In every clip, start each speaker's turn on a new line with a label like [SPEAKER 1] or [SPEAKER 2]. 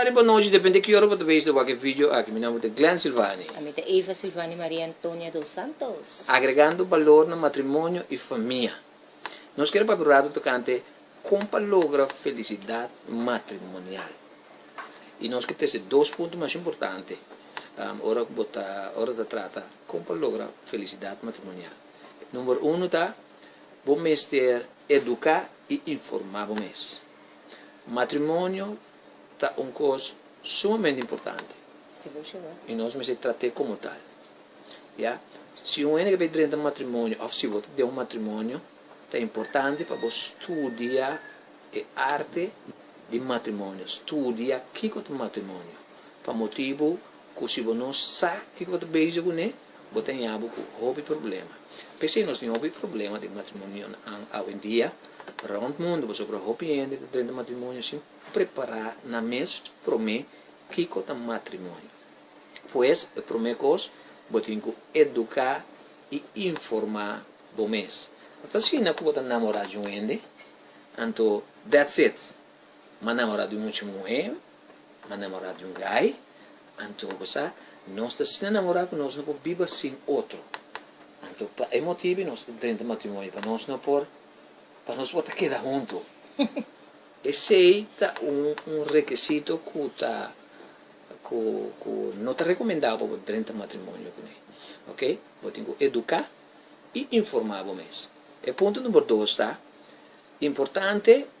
[SPEAKER 1] Tardi pa nochi, depende ki ora bo ta bes di wak e video aki. Mi nomber ta Glen Silvany. I mi ta Eva Silvany Maria Antonia dos Santos. Agregando balor na matrimonio i famia. Nos kere papia un ratu tocante con pa logra felicidad matrimonial. I nos ke teste dos punto mas importante ora ku bo ta ora ta trata. Kon pa logra felisidat matrimonial? Number uno ta, bo mester eduká i informá bo mes. Matrimonio ta un kos sumamente importante i nos mester trat'é komo tal. Ya si un hende ke ta bai drenta matrimonio òf si bo ta den un matrimonio, ta importante pa bo studia e arte di matrimonio, studia kiko ta matrimonio, pa motibu Cu si bo no sa kico bo ta bezig cu ne, bo ta ña bo cu hopi problema. P'esey nos tin hopi problema den matrimonionan awendia. Rond mundo pasobra hopi hende ta drenta matrimonio sin prepara nan mes prome kico ta matrimonio. Pues, e prome cos, bo tin cu educa y informa bo mes. No ta asina cu bo ta namora dje un hende, anto that's it! M'a namorá di un mucha muhé, m'a namorá di un gai, anto bo sa, nos ta asina namorá ku nos no por biba sin otro. Anto pa e motibu nos ta drenta matrimonio, pa nos no por, pa nos por ta keda huntu. Esei ta un un rekesito ku ta ku ku no ta rekomendá pa bo drenta matrimonio kuné. Oke, bo tin ku eduká i informá bo mes. E punto number dos ta, importante.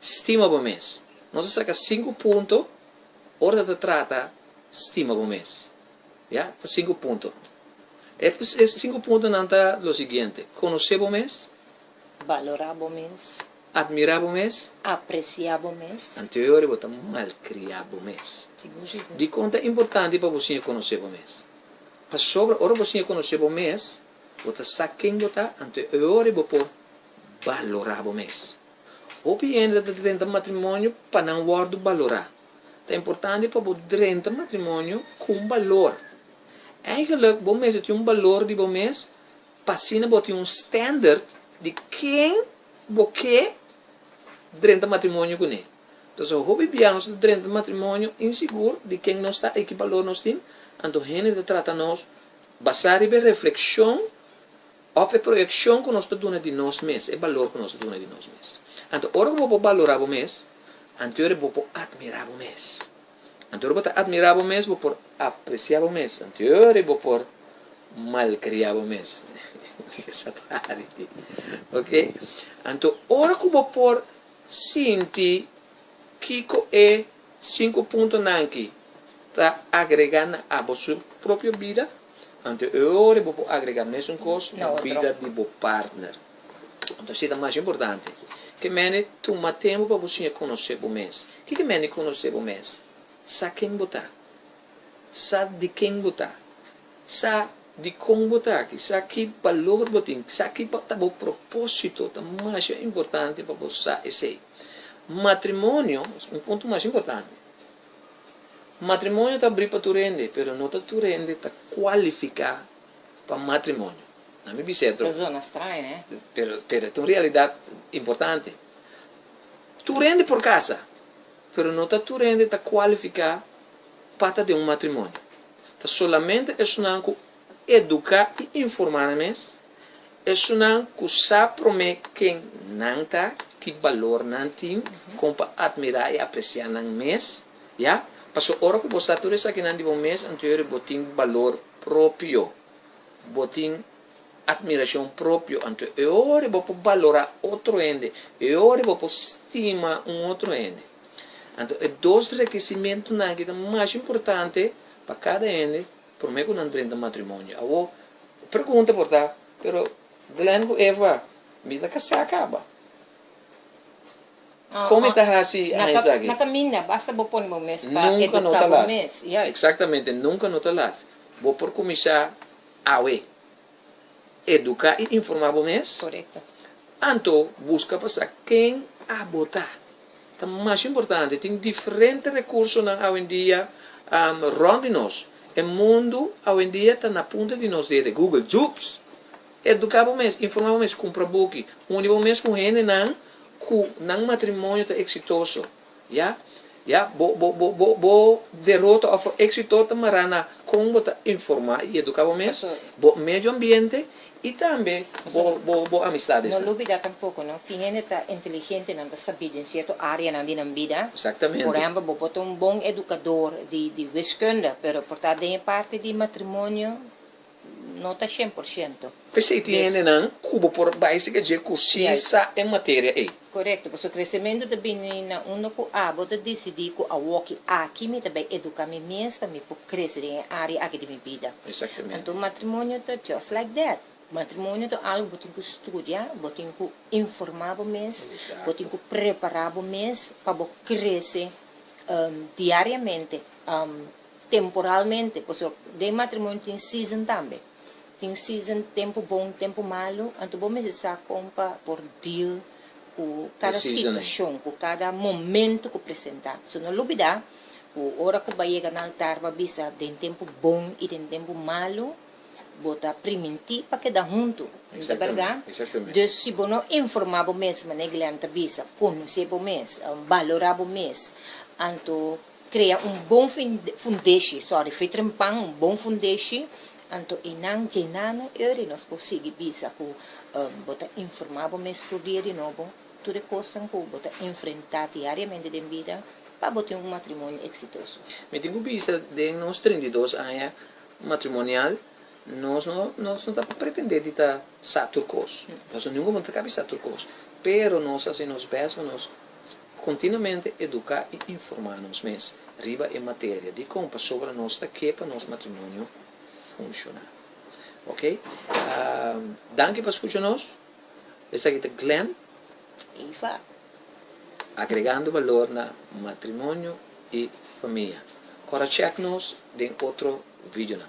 [SPEAKER 1] Stima bo mes. Nos a saka sinku punto ora ta trata stima bo mes. Ya, ta sinku punto. E sinku puntonan ta lo siguiente, konosé bo mes. Balorá bo mes. Admirá bo mes. Apresiá bo mes. Anto yori bo ta malkriá bo mes. Dikon ta importante pa bo siña konosé bo mes? Pasobra ora bo siña konosé bo mes, bo ta sa ken bo ta, anto yori bo por balorá bo mes. Hopi hende ta drenta matrimonio pa nan wòrdu balorá. Ta importante pa bo drenta matrimonio ku un balor. Eigentlik bo mester tin un balor di bo mes pa asina bo tin un standard di ken bo ke drenta matrimonio kuné. Toso hopi bia nos ta drenta matrimonio insigur di ken nos ta i ki balor nos tin, anto hende ta trata nos basá riba e reflekshon Òf e proyekshon ku nos ta duna di nos mes, e balor ku nos ta duna di nos mes. Anto ora ku bo por balorá bo mes, anto ora bo por atmirá bo mes. Anto ora bo ta atmirá bo mes, bo por apresiá bo mes, anto ora bo por malkriá bo mes. Esaki ta hari di ok. Anto ora ku bo por sinti kiko e sinku puntonan aki ta agregá na bo su propio bida, Anto e ora bo por agrega mesun kos na bida di bo partner. Anto así ta mas importante. Ke mende tuma tempu pa bo siña konosé bo mes. Kiko e mende konosé bo mes? Sa ken bo ta. Sa di ken bo ta. Sa dikon bo ta aki. Sa ki balor bo tin. Sa ki ta bo propósito. Ta mas importante pa bo sa esei. Matrimonio, un punto mas importante. Matrimonio ta abrí pa tur hende, pero no ta tur hende ta kualifiká pa matrimonio. Na mi bisètro. Ta zona straña, eh? Pero, pero e ta un realidat importante. Tur hende por kasa, pero no ta tur hende ta kualifiká pa ta den un matrimonio. Ta solamente esnan ku. Educa y informa nan mes, esunnan cu sa prome ken nan ta, ki balor nan tin, con pa admira y aprecia nan mes, ya, pasobra ora cu bo sa tur esakinan di bo mes, anto yori bo tin balor propio, bo tin admiracion propio, anto e ora bo por balora otro hende, e ora bo por stima un otro hende. Anto e dos rekisimentonan aki ta mas importante pa cada hende. Promé ku nan drenta matrimonio. Awor, e pregunta por ta, Pero, Glenn ku Eva, mi ta kasá kaba. Kon mi ta hasi aña aki? Na kaminda, basta bo pone bo mes pa eduká bo mes. Nunka no ta lat. Eksaktamente, nunka no ta lat. Bo por kuminsá awe. Educa y informa bo mes. Anto busca pa sa ken a bota. Ta mas importante. Tin diferente recursonan awendia rond di nos. E mundo awendia ta na punta di nos dedo. Google, jubs. Educa bo mes, informa bo mes, cumpra buki, uni bo mes cu hendenan cu nan matrimonio ta exitoso. Ya, ya, bo, bo, bo, bo, bo derota of exito ta mara na con bo ta informa y educa bo mes, bo medio ambiente y tambe bo, bo, bo amisdadesnan. No lubida tampoco no, tin hende ta inteligente, nan ta sabida den cierto areanan di nan bida. Exactamente. Por ehempel, bo por ta un bon educador di, di wiskunde, pero por ta den e parte di matrimonio, no ta shen por shento. P'esei tin hendenan ku bo por bai siga dje ku sí sa e materia ei. Korekto, pasobra kresementu ta bini na unda ku abo ta disidí ku awoki aki mi ta bai eduká mi mes pa mi por krese den e área aki di mi bida. Anto matrimonio ta just like that. Matrimonio ta algu bo tin ku studia, bo tin ku informá bo mes, bo tin ku prepará bo mes pa bo krese diariamente. Temporalmente, pasobra cu den e matrimonio tin season tambe. Tin season, tempo bon, tempo malo, anto bo mester sa con pa por deal cu cada situacion, cu cada momento cu presenta. So no lubida cu ora cu bo a yega na altar bo a bisa den tempo bon y den tempo malo bo ta priminti pa keda hunto, no ta berdad? Dus si bo no informa bo mes, manera Glen ta bisa, conoce bo mes, balora bo mes, anto. Krea un bon fundeshi, sorry, fitrempan un bon fundeshi, anto e nan djena no e ori nos por sigui bisa ku bo ta informá bo mes tur dia di nobo tur e kosnan ku bo ta enfrentá diariamente den bida pa bo tin un matrimonio eksitoso. Mi tin ku bisa den nos treinta i dos aña matrimonial nos no nos no ta pretendé di ta sa tur kos, nos no ningún momen ta kap'e sa tur kos, pero nos hasi nos bèst pa nos Continuamente educa y informa nos mes riba e materia dicon pasobra nos ta ke pa nos matrimonio funciona. Ok. Danki pa scucha nos. Esaki ta Glen y Iva agregando valor na matrimonio y famia. Cora check nos den otro videonan.